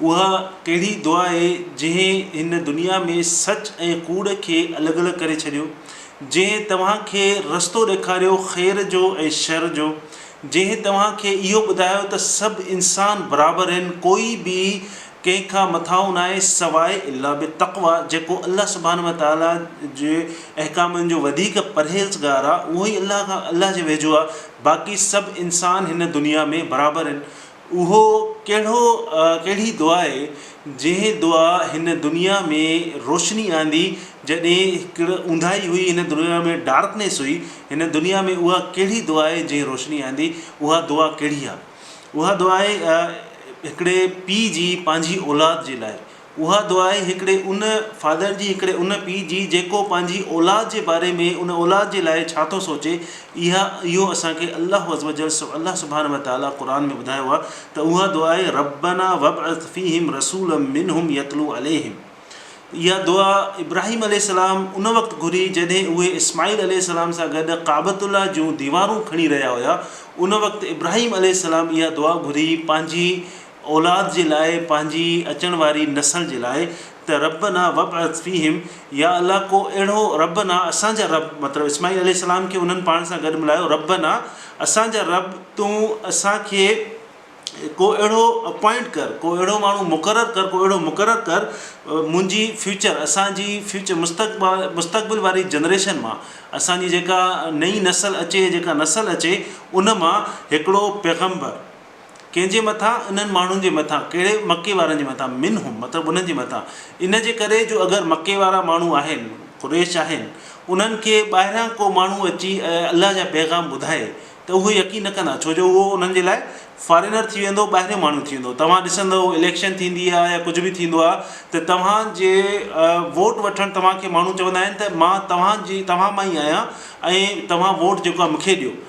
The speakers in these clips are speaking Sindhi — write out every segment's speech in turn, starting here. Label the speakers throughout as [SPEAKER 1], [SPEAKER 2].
[SPEAKER 1] اها ڪهڙي دعا اهي جنهن هن دنيا ۾ سچ ۽ ڪوڙ کي الڳ الڳ ڪري ڇڏيو، جنهن توهان کي رستو ڏيکاريو خير جو ۽ شر جو، جنهن توهان کي اهو ٻڌايو ته سڀ انسان برابر هن ڪوئي به ڪنهن کان مٿانهون ناهي سواء الا بالتقويٰ جيڪو الله سبحانه وتعاليٰ جي احڪامن جو وڌيڪ پرهيزگار آهي اهوئي الله کان الله جي ويجهو آهي باقي سڀ انسان هن دنيا ۾ برابر هن اهو ڪهڙو ڪهڙي دعا آهي جنهن دعا هن دنيا ۾ روشني آندي جڏهن هڪڙ اونداهي هئي هن دنيا ۾ ڊارڪنيس هئي هن دنيا ۾ اها ڪهڙي دعا آهي جنهن روشني آندي اها دعا ڪهڙي آهي اها دعا آهي هڪڙي پيء جي پنهنجي اولاد جي لاء اها دعا آهي هڪڙي ان فادر جي هڪڙي ان پيء جي جيڪو پنهنجي اولاد جي باري ۾ ان اولاد جي لاء ڇا ٿو سوچي اها اهو اسان کي الله عزّوجلّ الله سبحانه وتعالٰي قرآن ۾ ٻڌايو آهي ته اها دعا آهي ربّنا وابعث فيهم رسولا منهم يتلو عليهم اها دعا ابراهيم عليه السلام ان وقت گهري جڏهن اهي اسماعيل عليه السلام سان گڏ ڪعبت الله جون ديوارون کڻي رهيا هيا ان وقت ابراهيم عليه السلام اها دعا گهري پنهنجي اولاد جي لاء پنهنجي اچڻ واري نسل جي لاء ته ربّنا وابعث فيهم يا الله ڪو اهڙو ربّنا اسان جا رب مطلب اسماعيل عليه السلام کي انهن پاڻ سان گڏ ملايو ربّنا اسان جا رب تون اسان کي ڪو اهڙو اپوائنٽ ڪر ڪو اهڙو ماڻهو مقرر ڪر ڪو اهڙو مقرر ڪر منهنجي فيوچر اسان جي فيوچر مستقبال مستقبل واري جنريشن مان اسان جي جيڪا نئي نسل اچي جيڪا نسل اچي ان مان هڪڙو پيغمبر ڪنهن جي مٿان؟ انهن ماڻهن جي مٿان، ڪهڙي؟ مڪي وارن جي مٿان، منهم، مطلب انهن جي مٿان، ان جي ڪري جو اگر مڪي وارا ماڻهو آهن، قريش آهن، انهن کي ٻاهران ڪو ماڻهو اچي ۽ الله جا پيغام ٻڌائي ته اهي يقين نه ڪندا ڇو جو اهو انهن جي لاء فارينر ٿي ويندو، ٻاهريون ماڻهو ٿي ويندو، توهان ڏسندؤ اليڪشن ٿيندي آهي يا ڪجهه به ٿيندو آهي ته توهان جي ووٽ وٺڻ توهان کي ماڻهو چوندا آهن ته مان توهان جي توهان مان ئي آهيان ۽ توهان ووٽ جيڪو آهي مونکي ڏيو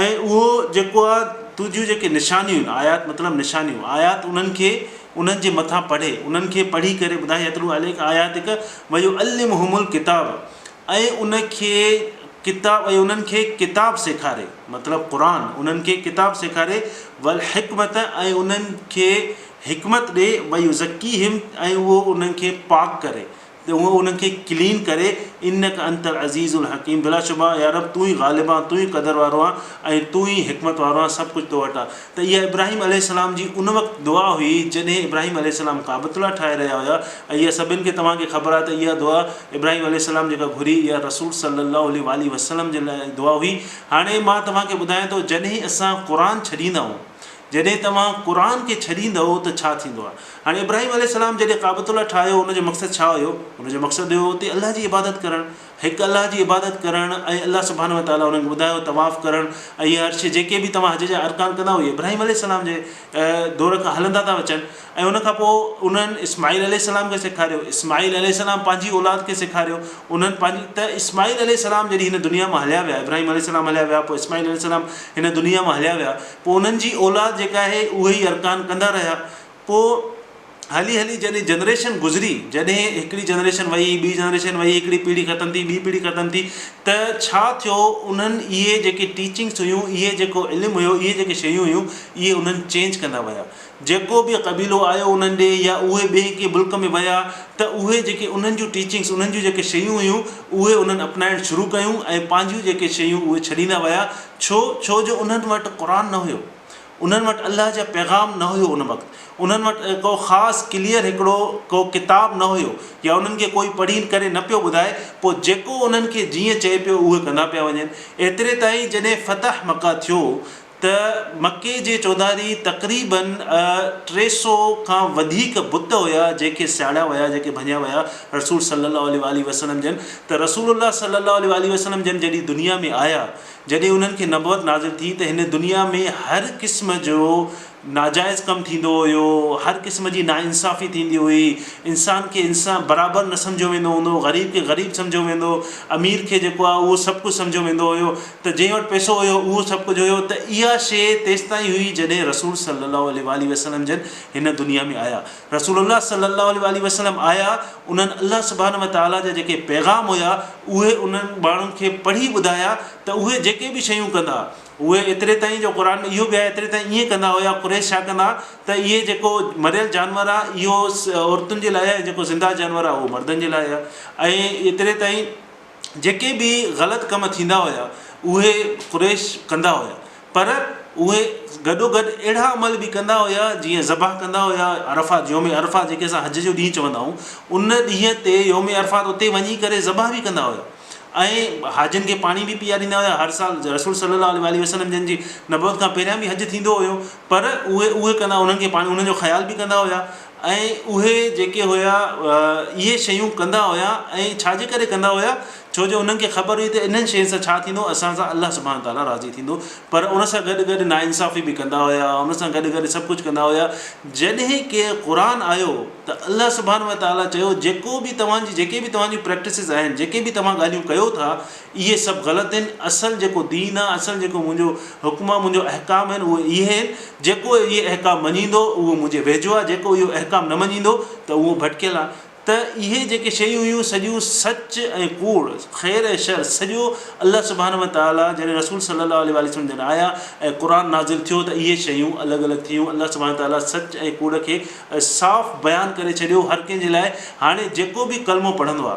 [SPEAKER 1] ۽ اهو جيڪو آ تو جون جيڪي نشانيون آهن، آيات مطلب نشانيون، آيات انهن کي انهن جي مٿان پڙهي، انهن کي پڙهي ڪري ٻڌاء يتلو عليک آياتک ويعلمهم الڪتاب ۽ ان کي ڪتاب ۽ انهن کي ڪتاب سيکاري مطلب قرآن انهن کي ڪتاب سيکاري والحڪمة ۽ انهن کي حڪمت ڏي ويزڪيهم ۽ اهو انهن کي پاڪ ڪري ته هو انهن کي ڪلين ڪري، انڪ انت العزيز الحڪيم بلاشبه يا رب تون ئي غالب آن، تون ئي قدر وارو آن ۽ تون ئي حڪمت وارو آن سڀ ڪجهه تو وٽ آ. ته اها ابراهيم عليه السلام جي ان وقت دعا هئي جڏهن ابراهيم عليه السلام ڪعبة الله ٺاهي رهيا هيا ۽ اها سڀن کي توهان کي خبر آهي ته اها دعا ابراهيم عليه السلام جيڪا گهري اها رسول صلي الله عليه واٰله وسلم جي لاء دعا هئي. هاڻي مان توهان کي ٻڌايان ٿو جڏهن اسان قرآن ڇڏيندا آهيون جڏهن توهان قرآن کي ڇڏيندؤ ته ڇا ٿيندو آهي؟ هاڻي ابراهيم عليه السلام جڏهن ڪعبة الله ٺاهيو ان جو مقصد ڇا هيو؟ ان جو مقصد هيو اتي الله جي عبادت ڪرڻ، هڪ الله جي عبادت ڪرڻ ۽ الله سبحانه وتعالٰي انهن کي ٻڌايو طواف ڪرڻ ۽ هي هرشي جيڪي به توهان حج جا ارڪان ڪندا اهي ابراهيم عليه السلام جي دور کان هلندا ٿا اچن ۽ ان کان پوء انهن اسماعيل عليه السلام کي سيکاريو، اسماعيل عليه السلام پنهنجي اولاد کي سيکاريو، انهن پنهنجي ته اسماعيل عليه السلام جڏهن هن دنيا مان هليا ويا، ابراهيم عليه السلام هليا ويا، پوء اسماعيل عليه السلام هن دنيا مان هليا ويا، پوء انهن جي اولاد جيڪا آهي اهي ئي ارڪان ڪندا رهيا، پوء هلي هلي جڏهن جنريشن گذري، جڏهن هڪڙي جنريشن وئي، ٻي جنريشن وئي، هڪڙي پيڙهي ختم ٿي، ٻي پيڙهي ختم ٿي ته ڇا ٿيو انهن اهي جيڪي ٽيچنگس هيون، اهي جيڪو علم هيو، اهي جيڪي شيون هيون اهي انهن چينج ڪندا ويا. جيڪو به قبيلو آيو انهن ڏي يا اهي ٻئي ڪنهن ملڪ ۾ ويا ته اهي جيڪي انهن جون ٽيچنگس انهن جون جيڪي شيون هيون اهي انهن اپنائڻ شروع ڪيون ۽ پنهنجيون جيڪي شيون اهي ڇڏيندا ويا ڇو ڇو جو انهن وٽ قرآن نه هيو انهن وٽ الله جا پيغام نه هيو ان وقت انهن وٽ ڪو خاص ڪليئر هڪڙو ڪو ڪتاب نه هيو يا انهن کي ڪوئي پڙهي ڪري نه پيو ٻڌائي پوء جيڪو انهن کي جيئن چئي پيو اهي ڪندا پيا وڃن ايتري تائين جڏهن فتح مڪه ٿيو ته مڪي جي چوڌاري تقريباً ٽي سؤ کان وڌيڪ بت هيا جيڪي سياڙيا ويا جيڪي ڀڃيا ويا رسول صلّي اللّٰه عليه واٰله وسلّم جن ته رسول الله صلّي اللّٰه عليه واٰله وسلّم جن جڏهن دنيا ۾ آيا جڏهن انهن کي نبوت نازل ٿي ته هن دنيا ۾ هر قسم جو ناجائز ڪم ٿيندو هيو هر قسم جي ناانصافي ٿيندي هئي انسان کي انسان برابر نه سمجهيو ويندو هوندو غريب کي غريب سمجهيو ويندو امير کي جيڪو آهي اهو سڀ ڪجهه سمجهيو ويندو هيو ته جنهن وٽ پئسو هيو اهو سڀ ڪجهه هيو ته اها شيء تيستائين هئي جڏهن رسول صلّي اللّٰه عليه واٰله وسلّم جن هن دنيا ۾ آيا. رسول الله صلّي اللّٰه عليه واٰله وسلّم آيا انهن الله سبحانه وتعالٰي جا جيڪي پيغام هيا اهي انهن ماڻهن کي پڙهي ٻڌايا ته اهي جيڪي به شيون ڪندا اهي ايتري تائين جو قرآن ۾ اهو به آهي ايتري تائين ائين ڪندا هيا قريش ڇا ڪندا ته اهي جيڪو مريل جانور آهي اهو عورتن جي لاء آهي ۽ جيڪو زنده جانور آهي اهو مردن جي لاء آهي ۽ ايتري تائين جيڪي به غلط ڪم ٿيندا هيا اهي قريش ڪندا هيا پر اهي گڏوگڏ اهڙا عمل به ڪندا هيا جيئن ذبح ڪندا هيا عرفات يوم عرفات جيڪي اسان حج جو ڏينهن چوندا آهيون ان ڏينهن تي يوم عرفات اتي وڃي ڪري ذبح به ڪندا هيا ۽ حاجين کي پاڻي به پيئاريندا هيا هر سال رسول صلي الله عليه وسلم جن جي نبوت کان پهريان به حج ٿيندو هيو پر اهي اهي ڪندا انهن کي پاڻي انهن جو خيال به ڪندا هيا ۽ اهي جيڪي هيا اهي شيون ڪندا هيا ۽ ڇا جي ڪري ڪندا هيا ڇو جو انهن کي خبر هئي ته انهن شين سان ڇا ٿيندو اسان سان الله سبحانه وتعالٰي راضي ٿيندو پر ان سان گڏ گڏ نا انصافي به ڪندا هيا ان سان گڏ گڏ سڀ ڪجهه ڪندا هيا جڏهن ڪي قرآن آيو ته الله سبحانه وتعالٰي چيو جيڪو به توهان جي جيڪي به توهان جي پريڪٽسز آهن جيڪي به توهان ڳالهيون ڪيو ٿا اهي سڀ غلط هن، اصل جيڪو دين آ، اصل جيڪو منهنجو حڪم آ، منهنجو احڪام هن اهي اهي هن، جيڪو اهي احڪام مڃيندو اهو منهنجي ويجهو آ، جيڪو اهو احڪام نه مڃيندو ته اهو ڀٽڪيل آ. ته اهي جيڪي شيون هيون سڄيون سچ ۽ ڪوڙ، خير ۽ شر سڄو الله سبحانه و تعاليٰ جڏهن رسول صلي الله عليه واٰله وسلم جن آيا ۽ قرآن نازل ٿيو ته اهي شيون الڳ الڳ ٿيون الله سبحانه و تعاليٰ سچ ۽ ڪوڙ کي صاف بيان ڪري ڇڏيو هر ڪنهن جي لاء هاڻي جيڪو به ڪلمو پڙهندو آ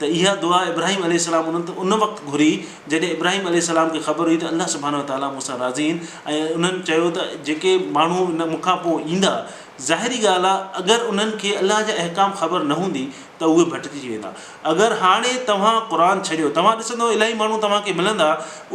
[SPEAKER 1] ته اها دعا ابراهيم عليه السلام انهن ته ان وقت گهري جڏهن ابراهيم عليه السلام کي خبر هئي ته الله سبحانه وتعالٰي مون سان راضي آهن ۽ انهن چيو ته جيڪي ماڻهو ان مون کان پوء ايندا ظاهري ڳالهه آهي اگر انهن کي الله جا احڪام خبر نه هوندي ته اهي ڀٽڪجي ويندا اگر هاڻي توهان قرآن ڇڏيو توهان ڏسندؤ الاهي ماڻهو توهان کي ملندا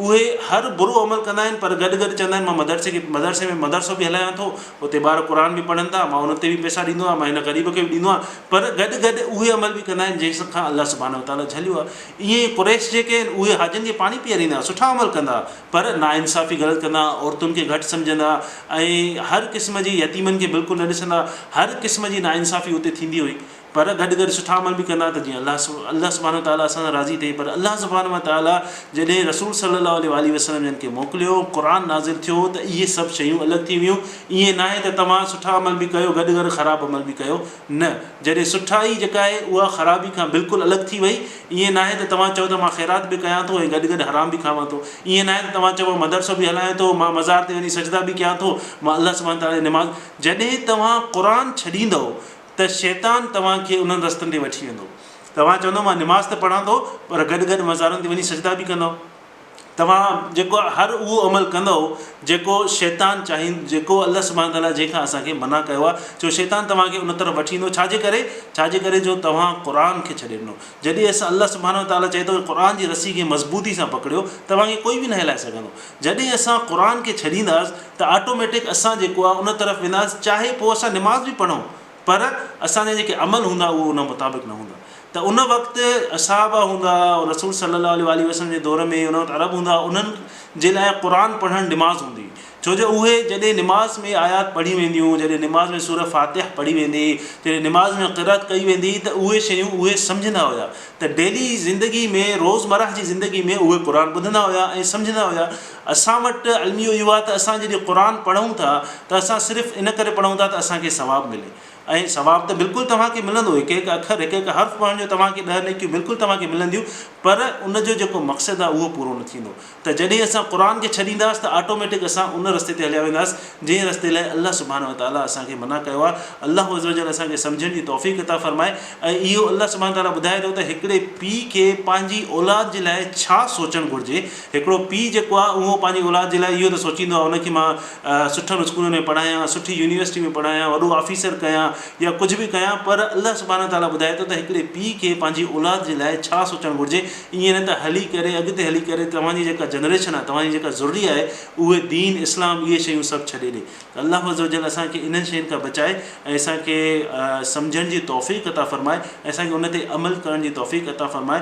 [SPEAKER 1] اهي هر برو عمل ڪندا آهن پر گڏ گڏ چوندا آهن مان مدرسي کي مدرسي ۾ مدرسو به هلايان ٿو اتي ٻار قرآن به پڙهن ٿا مان ان تي به پئسا ڏيندو آهيان مان هن غريب کي به ڏيندو آهيان پر گڏ گڏ اهي عمل به ڪندا آهن جنهن کان الله سبحانه وتعاليٰ جهليو آهي ائين ئي قريش جيڪي آهن اهي حاجين کي پاڻي پيئاريندا هئا سٺا عمل ڪندا هئا پر ناانصافي غلط ڪندا هئا عورتن کي گهٽ سمجهندا هئا ۽ هر قسم جي يتيمن کي بلڪل نه ڏسندا هئا هر قسم جي ناانصافي اتي ٿيندي هئي پر گڏ گڏ سٺا عمل به ڪندا هئا ته جيئن الله سب الله سبحانه وتعاليٰ اسان سان راضي ٿئي پر الله سبحانه وتعاليٰ جڏهن رسول صلّي الله عليه واٰله وسلّم جن کي موڪليو قرآن نازل ٿيو ته اهي سڀ شيون الڳ ٿي ويون ائين ناهي ته توهان سٺا عمل به ڪيو گڏ گڏ خراب عمل به ڪيو نه جڏهن سٺائي جيڪا آهي اها خرابي کان بلڪل الڳ ٿي وئي ائين ناهي ته توهان چئو ته مان خيرات به ڪيان ٿو ۽ گڏ گڏ حرام به کاوان ٿو ائين ناهي ته توهان چئو مان مدرسو به هلايان ٿو مان مزار تي وڃي سجدا به ڪيان ٿو مان الله سبحانه تعالي جي نماز جڏهن توهان قرآن ڇڏيندؤ ته شيطان توهان کي انهن رستن تي وٺي ويندو توهان چوندؤ مان نماز ته پڙهان ٿو پر گڏ گڏ مزارن تي وڃي سجدا به ڪندؤ. توهان جيڪو هر اهو عمل ڪندؤ جيڪو شيطان چاهين جيڪو الله سبحانه وتعاليٰ جنهن کان اسان کي منع ڪيو آهي ڇو شيطان توهان کي ان طرف وٺي ويندو ڇا جي ڪري ڇا جي ڪري جو توهان قرآن کي ڇڏي ڏنو جڏهن اسان الله سبحانه وتعاليٰ چئي ٿو قرآن جي رسي کي مضبوطي سان پڪڙيو توهان کي ڪوئي به نه هلائي سگهندو جڏهن اسان قرآن کي ڇڏينداس ته آٽوميٽڪ اسان جيڪو آهي ان طرف وينداس چاهي پوء اسان نماز به پڙهون پر اسان جا جيڪي عمل هوندا اهي ان مطابق نه هوندا ته ان وقت اصحابه هوندا هئا رسول صلي الله عليه واٰله وسلم جي دور ۾ ان وقت عرب هوندا هئا انهن جي لاء قرآن پڙهڻ نماز هوندي هئي ڇو جو اهي جڏهن نماز ۾ آيات پڙهيون وينديون جڏهن نماز ۾ سوره فاتح پڙهي ويندي جڏهن نماز ۾ قرات ڪئي ويندي هئي ته اهي شيون اهي سمجهندا هيا ته ڊيلي زندگي ۾ روزمره جي زندگي ۾ اهي قرآن ٻڌندا هيا ۽ سمجهندا هيا اسان وٽ الميو اهو آهي ته اسان جڏهن قرآن پڙهون ٿا ته اسان صرف ان ڪري پڙهون ٿا ته اسان کي ثواب ملي ۽ ثواب ته بلڪل توهان کي ملندو هڪ هڪ اکر هڪ هڪ حرف پڙهڻ جو توهان کي ڏهه نيڪيون بلڪل توهان کي ملنديون پر ان جو جيڪو مقصد آهي اهو پورو نه ٿيندو ته جڏهن اسان قرآن کي ڇڏينداس ته آٽوميٽڪ اسان ان رستي تي هليا وينداس جنهن رستي لاء الله سبحانه وتعالٰي اسان کي منع ڪيو آهي الله عزّوجلّ اسان کي سمجهڻ جي توفيق عطا فرمائي ۽ اهو الله سبحانه وتعالٰي ٻڌائي ٿو ته هڪڙي پيء کي پنهنجي اولاد جي لاء ڇا سوچڻ گهرجي هڪڙو پيء جيڪو آهي اهو پنهنجي اولاد جي لاء اهو ته سوچيندو آهي ان کي مان سٺن اسڪولن ۾ پڙهايان، سٺي يونيورسٽي ۾ پڙهايان، وڏو آفيسر ڪيان يا ڪجهه به ڪيان پر الله سبحانه تعاليٰ ٻڌائي ٿو ته هڪڙي پيء کي پنهنجي اولاد جي لاء ڇا سوچڻ گهرجي ائين نه ته هلي ڪري اڳتي هلي ڪري توهان جي جيڪا جنريشن آهي توهان جي جيڪا ذريه آهي اهي دين اسلام اهي شيون سڀ ڇڏي ڏي ته الله عزّوجلّ اسان کي انهن شين کان بچائي ۽ اسان کي سمجهڻ جي توفيق عطا فرمائي ۽ اسان کي ان تي عمل ڪرڻ جي توفيق عطا فرمائي.